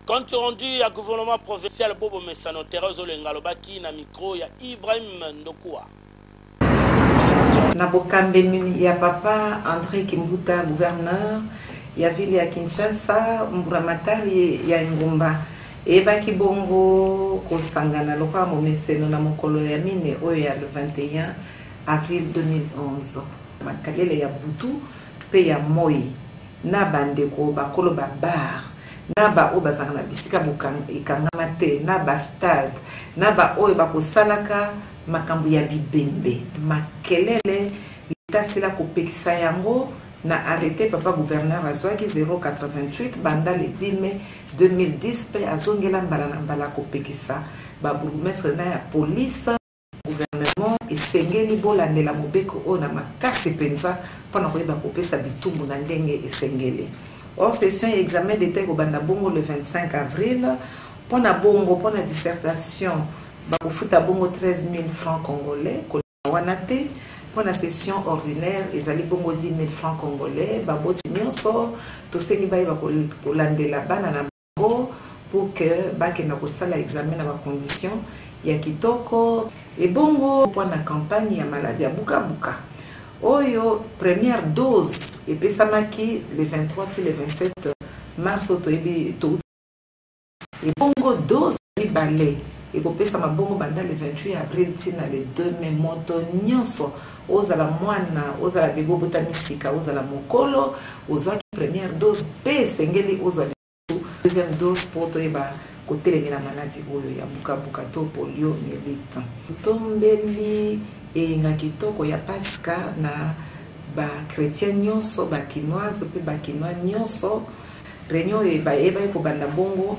Compte rendu ya gouvernement provincial Bobo Mesano Terrain Ozolenga alobaki na micro ya Ibrahim Ndokua. Na bokambemi ya papa Andre Kimbuta gouverneur ya ville ya Kinshasa, mburamatari ya engumba eyebaki bongo kosangana lokola momeseno na mokolo ya mine oyo ya le 21 avril 2011 makalele ya butu mpe ya moi na ba ndeko bakolo ba bar, na ba oyo bazalaka na bisika bokanga ekangama te, na ba stade, na ba oyo bako salaka makambo ya bibembe, makelele l'etat asila ko pekisa yango na arrete papa gouverneur azuaki 088 banda le 10 mai 2010 mpe azongela mbala na mbala ko pekisa ba bourgoumestre na ya police Gouvernement esengeli bolandela mobeko oyo na makasi penza mpo na koyeba kopesa bitumbu na ndenge esengeli. Hors session ya examen d'Etat ekobanda bongo le 25 avril. Mpo na bongo, mpo na dissertation bakofuta bongo 13.000 francs congolais, koleka wana te. Mpo na session ordinaire ezali bongo 10.000 francs congolais. Baboti nyonso tosengi bayeba kolandela bana na. bango pour que bakenda kosala examen na ba conditions ya kitoko. Ebongo mpo na campagne ya maladi ya bukabuka oyo première dose epesamaki le 23 ti le 27 mars oyo toyebi towuti ebongo dose mibale ekopesama bongo banda le 28 avril ti na le 2 mai moto nyonso ozala mwana ozala bebe obotami sika ozala mokolo ozwaki première dose mpe esengeli ozwa lisusu deuxième dose mpo toyeba kotelemela maladi oyo ya bukabuka to polio melite tombeli eyenga kitoko ya pasika na bakretien nyonso bakinoise mpe bakinois nyonso reunion oyo ebaki kobanda bongo